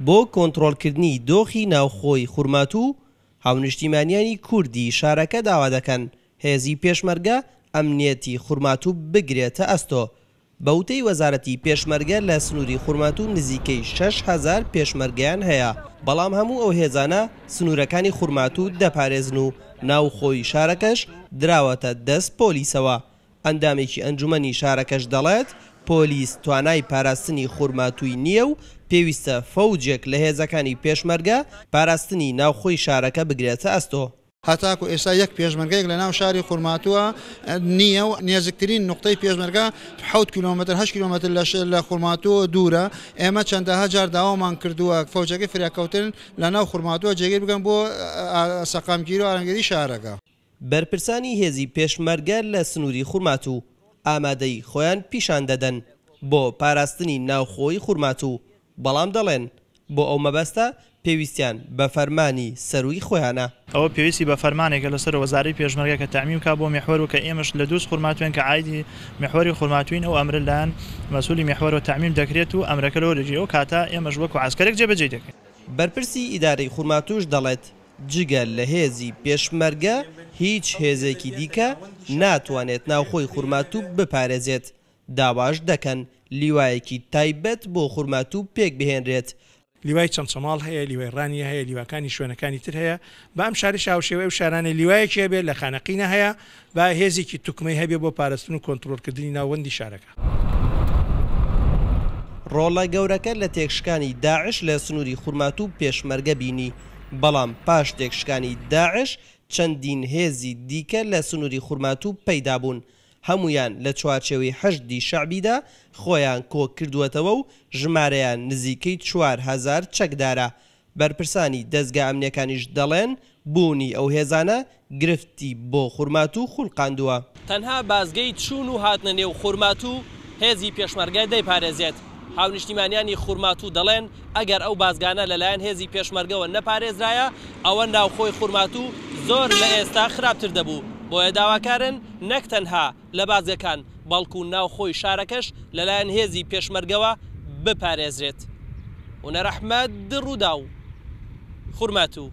بۆ کۆنترۆڵکردنی دۆخی ناوخۆی خورماتوو، هاونیشتیمانیانی کوردی شارەکە داوا دەکەن هێزی پێشمەرگە ئەمنیەتی خورماتوو بگرێتە ئەستۆ. بە وتەی وەزارەتی پێشمەرگە لە سنووری خورماتوو نزیکەی شەش هەزار پێشمەرگەیان هەیە، بەڵام هەموو ئەو هێزانە سنوورەکانی خورماتوو دەپارێزن و ناوخۆی شارەکەش دراوەتە دەست پۆلیسەوە. ئەندامێکی ئەنجومەنی شارەکەش دەڵێت، پۆلیس توانای پاراستنی خورماتووی نییە و پێویستە فەوجێک لە هێزەکانی پێشمەرگە پاراستنی ناوخۆی شارەکە بگرێتە ئەستۆ. هەتاکو ئێستا یەک پێشمەرگەیەک لە ناو شاری خورماتووە نییە و نێزکترین نوقتەی پێشمەرگە حەوت کیلۆمەتر، هەشت کیلۆمەتر لە خورماتووەوە دوورە. ئێمە چەندەها جار داوامان کردووە فەوجەکەی فریاکەوتن لە ناو خورماتووە جێگیر بکەن بۆ سەقامگیری و ئارامیگەری شارەکە. بەرپرسانی هێزی پێشمەرگە لە سنووری خورماتوو ئامادەیی خۆیان پیشان دەدەن بۆ پاراستنی ناوخۆی خورماتوو، بەڵام دەڵێن، بۆ ئەو مەبەستە پێویستیان بە فەرمانی سەرووی خۆیانە. ئەوە پێویستی بە فەرمانێکە لە سەرۆک وەزارەی پێشمەرگە کە تەعمیم کا بۆ میحوەر و کە ئێمەش لە دووز خورماتووێن کە عایدی میحوەری خورماتووین ئەو ئەمرە لەلایەن مەسوولی میحوەرەوە تەعمیم دەکرێت و ئەمرەکە لەوەرەجی ئەو کاتە ئێمەش وەکو عەسکەرێک جێبەجێی دەکەین. بەرپرسی ئیدارەی خورماتووش دەڵێت، جگە لە هێزی پێشمەرگە هیچ هێزێکی دیکە ناتوانێت ناوخۆی خورماتوو بپارێزێت، داواش دەکەن لیوایەکی تایبەت بۆ خورماتوو پێکبهێنرێت. لیوای چەمچەماڵ هەیە، لیوای ڕانیە هەیە، لیواکانی شوێنەکانی تر هەیە، بە ئەم شارەش هاوشێوەی ئەو شارانەی لیوایەکی هەبێت لە خانەقینە هەیە، با هێزێکی توکمەی هەبێ بۆ پارستن و کۆنترۆڵکردنی ناوەندی شارەکە. ڕۆڵە گەورەکە لە تێکشکانی داعش لە سنووری خورماتوو و پێشمەرگە بینی، بەڵام پاش تێکشکانی داعش چەندین هێزی دیکە لە سنووری خورماتوو پەیدا بوون، هەموویان لە چوارچێوەی حەشدی شەعبیدا خۆیان کۆکردووەتەوە و ژمارەیان نزیکەی چوار هەزار چەکدارە، بەرپرسانی دەزگا ئەمنیەکانیش دەڵێن، بوونی ئەو هێزانە گرفتی بۆ خورماتوو خولقاندووە. تەنها بازگەی چوون و هاتنە نێو خورماتوو هێزی پێشمەرگە دەیپارێزێت. هاونیشتیمانیانی خورماتوو دەڵێن، ئەگەر ئەو بازگانە لەلایەن هێزی پێشمەرگەوە نەپارێزرایە، ئەوە ناوخۆی خورماتوو زۆر لە ئێستا خراپتر دەبوو. بۆیە داواکارن نەک تەنها. لە بازگەکان، بەڵکو ناوخۆی شارەکەش لەلایەن هێزی پێشمەرگەوە بپارێزرێت. هونەر ئەحمەد، رووداو، خورماتوو.